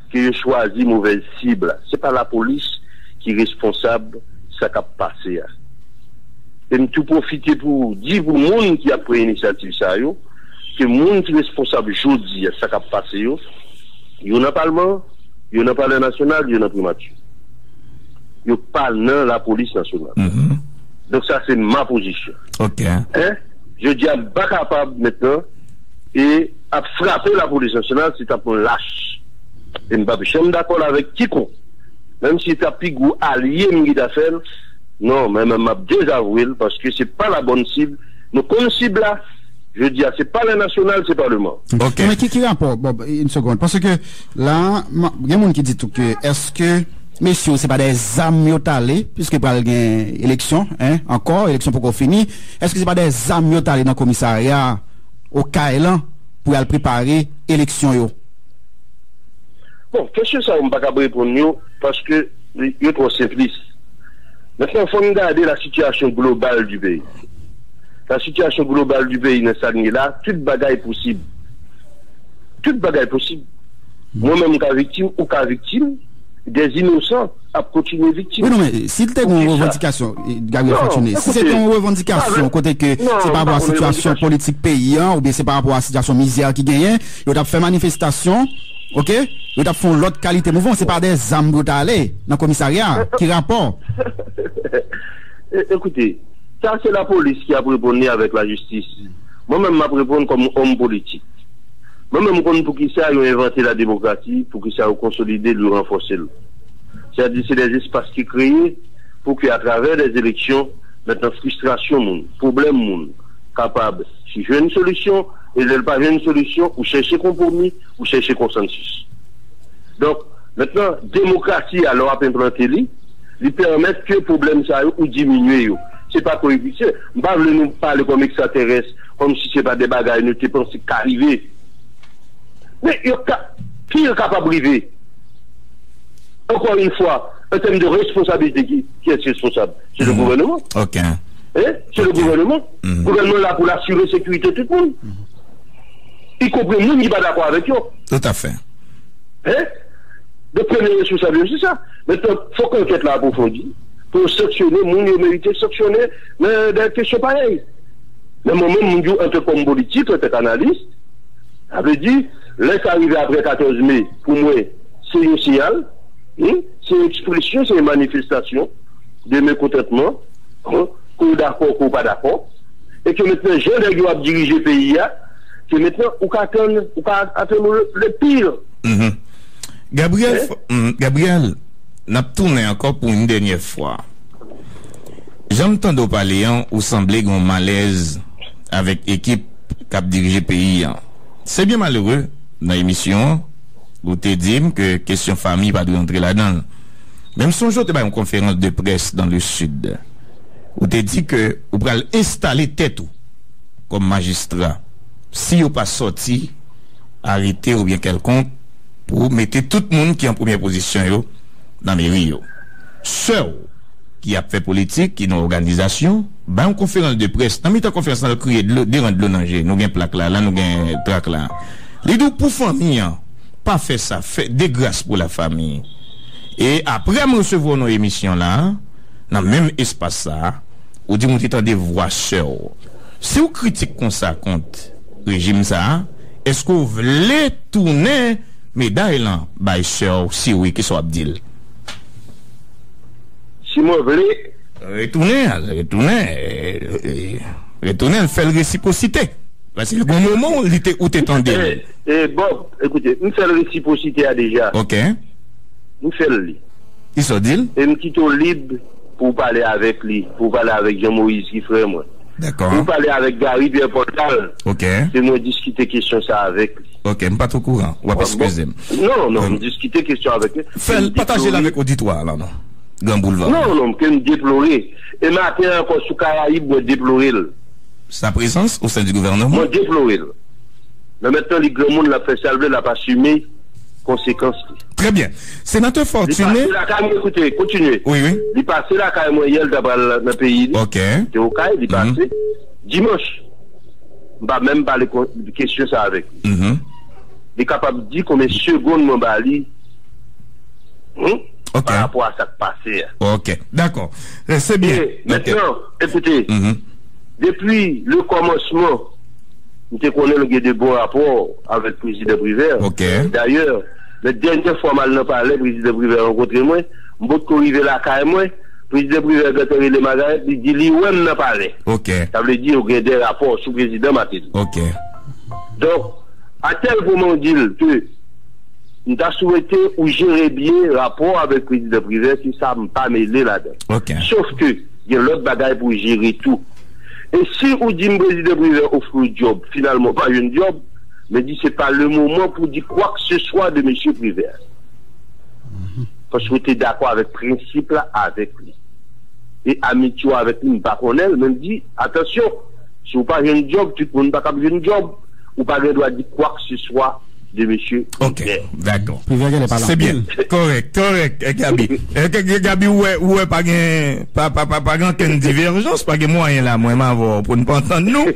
Ke yo chwazi movèz sib la. Se pa lapolis ki responsab sa kap pase a. E m tou pwofite pou di pou moun ki ap pran inisyativ sa yo, ke moun ki responsab jodi a sa kap pase yo, yo nan palman, yo nan palè nasyonal, yo nan primati. Yo pa nan lapolis nasyonal. Donk sa se ma pozisyon. Jodi a m pa kapab mentnan. e ap frape lapolis nasyonal se tap yon lach e m pap janm dakòl avèk kikonk menm si ta pi gwo alye m gita fèl non men men map dezavwel paske se pa la bòn sib nou konn sib la jodi a se palè nasyonal se paleman. Ok. Men ki rapò bon yn segond paske la gen moun ki di tou ke eske mesye yo se pa dèyè zam yo tale piske pral gen eleksyon hein ankò eleksyon poko fini eske se pa dèyè zam yo tale nan komisarya Okay lan pou yal prepare eleksyon yo. Bon, kesyon sa yo m pa kab reponn yo paske yo twò senplis. Mentnan fò n gade la sitiyasyon global di peyi. La sitiyasyon global di peyi nan sa n ye la, tout bagay posib. Tout bagay posib. Mwen menm m ka viktim, ou ka viktim, dè inosan. ap kontinye viktim. Wi non men si l te gen yon revandikasyon Gabriel Fortuné, si se te yon revandikasyon kote ke se pa rapò a sitiyasyon politik peyi an oubyen se pa rapò a sitiyasyon mizè ki genyen, yo t ap fè manifestasyon ok, yo t ap fè yon lòt kalite mouvman, se pa de zam pou yo ta ale nan komisarya a, ki rapò? Ekoute, sa se lapolis ki ap reponn li avèk lajistis. Mwen menm m ap reponn kòm òm politik. Mwen menm m konn poukisa yo envante lademokrasi, poukisa yo konsolide l, yo ranfòse l. Sa di se dè espas ki kreye pou ke atravè dè eleksyon mètnan fristrasyon moun, pwoblèm moun kapab jwenn solisyon e lè l pa jwenn solisyon ou chèche konpwomi, ou chèche konsansis. Donk, mètnan demokrasi a lè w ap enplante li, li pèmèt ke pwoblèm sa yo ou diminye yo. Se pa ko episye. M pa vle nou pale kòm ekstraterès, kòm si se pa dè bagay nou te panse k ka rive. Men yo ka pire kapab rive. Ankò yn fwa, an tèm de responsabilite ki kiyès responsab? Se le gouvèneman. Ok. Hein? Se le gouvèneman. Gouvèneman la pou l asire sekirite tout moun. Y konpri moun ki pa dakò avèk yo. Tout a fè. Hein? Donk premye responsab yo se sa. Mentnan fòk ankèt la apwofondi pou yo sanksyone moun yo merite sanksyone nan de kesyon parèy. Nan moman moun di w antre kòm politik, antre k analis, sa vle di lè sa rive aprè 14 me, Pou mwen, se yon siyal, wi, se yon ekspresyon, se yon manifestasyon de mekontantman, ke w dakò, ke w pa dakò, e ke mentnan jan nèg yo ap dirije peyi a, ke mentnan ou ka atann, ou ka atann ou le pire. Gabriel, Gabriel, n ap tounen ankò pou yon dènyè fwa. Jan m tande w pale an, ou sanble gen yon malèz avèk ekip k ap dirije peyi an. Se byen malere, nan emisyon an, ou te di m ke kesyon fami pa dwe antre ladan l. Men m sonje w te bay yon konferans de près dan le Sid. Ou te di ke ou pral enstale tèt ou kòm majistra si yo pa sòti arete oubyen kèlkonk pou mete tout moun ki an premyè pozisyon yo nan meri yo. Sè w ki ap fè politik, ki nan òganizasyon. Bay yon konferans de près. Nan mitan konferans lan l kriye dlo devan dlo nan je. Nou gen plak la, la nou gen trak la. Li di w pou fanmi an, pa fè sa, fè de gras pou la fami. E aprè m resevwa w nan emisyon la, nan menm espas sa, ou di m ou te tande vwa sè w. Si w kritik konsa kont rejim sa, èske w vle tounen meday lan bay sè w? Si wi, kisa w ap di l? Si mwen vle? Retounen al, retounen, retounen al fè l resipwosite. Paske gen yon moman ou li te, ou te tande l. E, e Bob, ekoute, m fè l resipwosite a deja. Ok. M fè l li. Ki sa w di l? E m kite w lib pou w pale avèk li, pou w pale avèk Jean Moïse ki frè mwen. Dakò. Pou w pale avèk Garry Pierre Paul ta l. Ok. Se mwen diskite kesyon sa avèk li. Ok, m pa t okouran. W ap eskize m. Non, non, m diskite kesyon avèk li. Fè l, pataje l avèk oditwa a la non. Gran Boulva. Non, non, ke m deplore. E maten an ankò sou Karayib mwen deplore l. Sa prezans o sen di gouvèneman. Mwen deplore l. Men mentnan li granmoun l ap fè sa l vle l ap asime konsekans li. Trè byen. Senatè Fortuné. Li pase lakay mwen koute, kontinye. Wi, wi. Li pase lakay mwen yè l ta pral nan peyi li. Ok. Li te Okay, li pase. Dimanch. M pa menm pale kesyon sa avèk li. Li kapab di konbyen segonn mwen ba li. Hum? Ok. Pa rapò a sa k pase a. Ok. Dakò. E, se byen. E, mentnan, ekoute, depi le kòmansman, m te konnen nou gen de bon rapò avèk Prezidan Privert. Ok. Dayè, lè dènyè fwa m al nan palè, Prezidan Privert rankontre mwen, m potko rive lakay mwen, Prezidan Privert gentan rele Margareth, li di li wè m nan palè. Ok. Sa vle di yo gen de rapò sou Prezidan Martelly. Ok. Donk, a tèl pwen mwen di l ke. M ta swete ou jere byen rapò avèk Prezidan Privè se sa m pa mele ladan l. Sof ke gen lòt bagay pou w jere tou. E si ou di m Prezidan Privè ofri w dyòb, finalman ou pa jwenn dyòb, men di se pa le moman pou w di kwakseswa de Mesye Privè. Paske w te dakò avèk prensip la avèk li. E amitye w avèk li m pa konnen l, men m di, atansyon, si w pa jwenn dyòb, tout moun pa kab jwenn dyòb, ou pa gen dwa di kwakseswa. de mesye Privè. Ok, dakò. Privè genlè pale anpil. Se byen. Kòrèk, kòrèk, Gaby. Gaby ou wè, ou wè pa gen, pa, pa, pa, pa gen ankenn divèjans, pa gen mwayen la mwen m avè w pou n pa antann nou.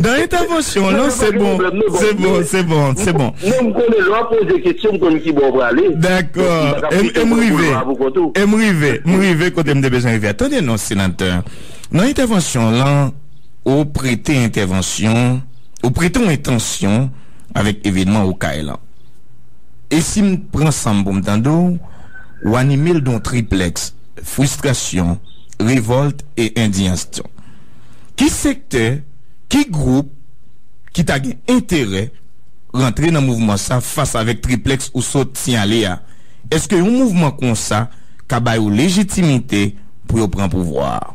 Dan entèvansyon w lan, se bon, se bon, se bon, se bon. Non, m konnen lè w ap poze kesyon, m konn ki bò w prale. Dakò. E m rive, e m rive, m rive kote m te bezwen rive a. Tande non, Senatè. Nan entèvansyon w lan, ou prete entèvansyon, ou prete yon entansyon. avèk evenman Okay lan. E si m pran san m pou m tande w, w anime l don triplèks, fristrasyon, revòlt e endiyansyon. Ki sektè, ki gwoup ki ta gen enterè rantre nan mouvman sa fas avèk triplèks ou sot siyale a? Eske yon mouvman konsa ka ba yo lejitimite pou yo pran pouvwa a?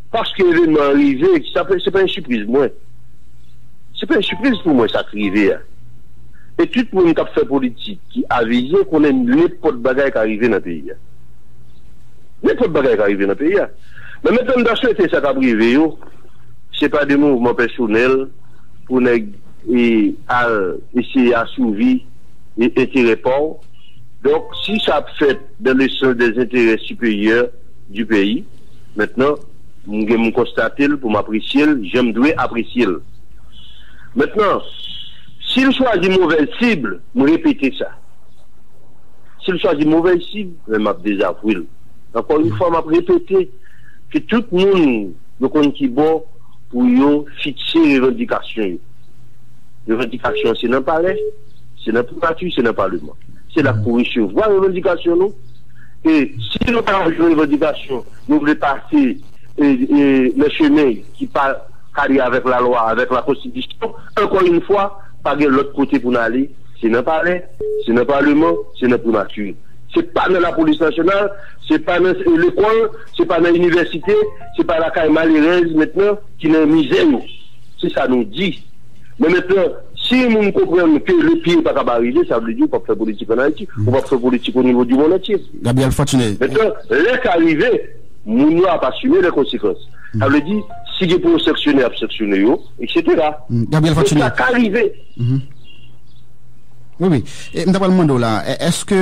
Paske evenman an rive, sa pa se pa yon sipriz pou mwen. Se pa yon sipriz pou mwen sa k rive a. E tout moun k ap fè politik, ki avize konnen nenpòt bagay ka rive nan peyi a. Nenpòt bagay ka rive nan peyi a. Men mèt ann ta swete sa k ap rive yo, se pa de mouvman pèsonèl pou nèg al eseye asouvi enterè pa w. Donk si sa ap fèt dan le sans dè zenterè siperyè di peyi. Mentnan, m gen m konstate l pou m apresye l jan m dwe apresye l. Mentnan, si l chwazi movèz sib, m repete sa. Si l chwazi movèz sib, men m ap dezavwe l. Ankò yon fwa, m ap repete ke tout moun yo konn ki bò pou yo fikse revandikasyon yo. Revandikasyon an se nan palè, se nan primati, se nan paleman. Se la pou resevwa revandikasyon nou. e si nou ta yon revandikasyon nou vle pase nan chemen ki pa kadre avèk lalwa, avèk lakonstitisyon, ankò yn fwa pa gen lòt kote pou n ale se nan palè, se nan paleman, se nan primati. Se pa nan lapolis nasyonal, se pa nan lekòl, se pa nan inivèsite, se pa lakay malerèz mentnan ki nan mizè yo. Se sa nou di. Men mentnan, si yon moun konprann ke le pire pa kab arive, sa vle di ou pap fè politik an Ayiti, ou pap fè politik o nivo di mond antye. Gabriel Fortuné. Mentnan, lè sa rive, moun yo ap asime lè konsekans. Sa vle di, si gen pou yo sanksyone, yap sanksyone yo, eksetera. Gabriel Fortuné. Men sa ka rive. Wi, wi. E, m ta pral mande w la, èske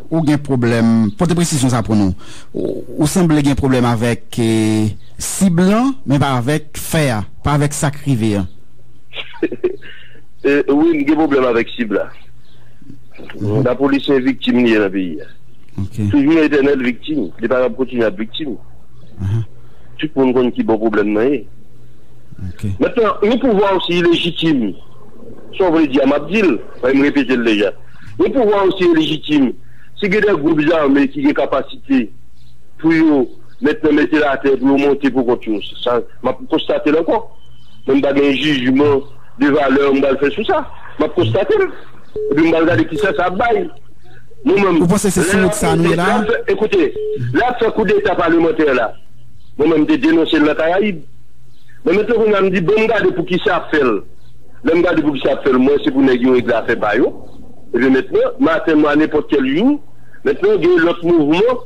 ou gen pwoblèm, pote presizyon sa pou nou, ou sanble gen pwoblèm avèk sib lan, men pa avèk fè a? Pa vek sak rive an. Wi m gen pwoblèm avèk sib la. Lapolisyen viktim li ye nan peyi a. Toujou yon etènèl viktim. Li pa kapab kontinye ap viktim. Tout moun konn ki bò pwoblèm nan ye. Mentnan, yon pouvwa osi ilejitim, sa w vle di a m ap di l, paske m repete l deja. Yon pouvwa osi ilejitim, si gen de gwoup zame ki gen kapasite pou yo. Mèt nan mete l atè pou yo monte pou kont yo. Se sa m ap konstate l ankò. Mwen m pa gen jijman de valè m pral fè sou sa. M ap konstate l. Epi m pral gade kisa sa ap bay. Mwen menm, Ou panse se sou wout sa a nou ye la a? Ekoute, lè y ap fè koudeta palemantè la, mwen menm m te denonse l nan Karayib. Men mèt lan kounye a m di bon m gade pou kisa y ap fè l. Lè m gade pou kisa y ap fè l, m wè se pou nèg yo regle afè pa yo. Ebyen mèt lan, maten m a nenpòt kèl jou, mèt lan gen lòt mouvman.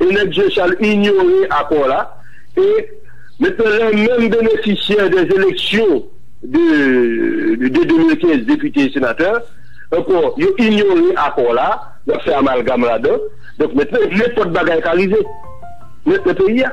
e nèg Jechal inyore akò la e mentnan lè menm benefisyè dè eleksyon de 2015 depite e senatè ankò yo inyore akò la yap fè amalgam ladan donk mentnan nenpòt bagay ka rive nan peyi a.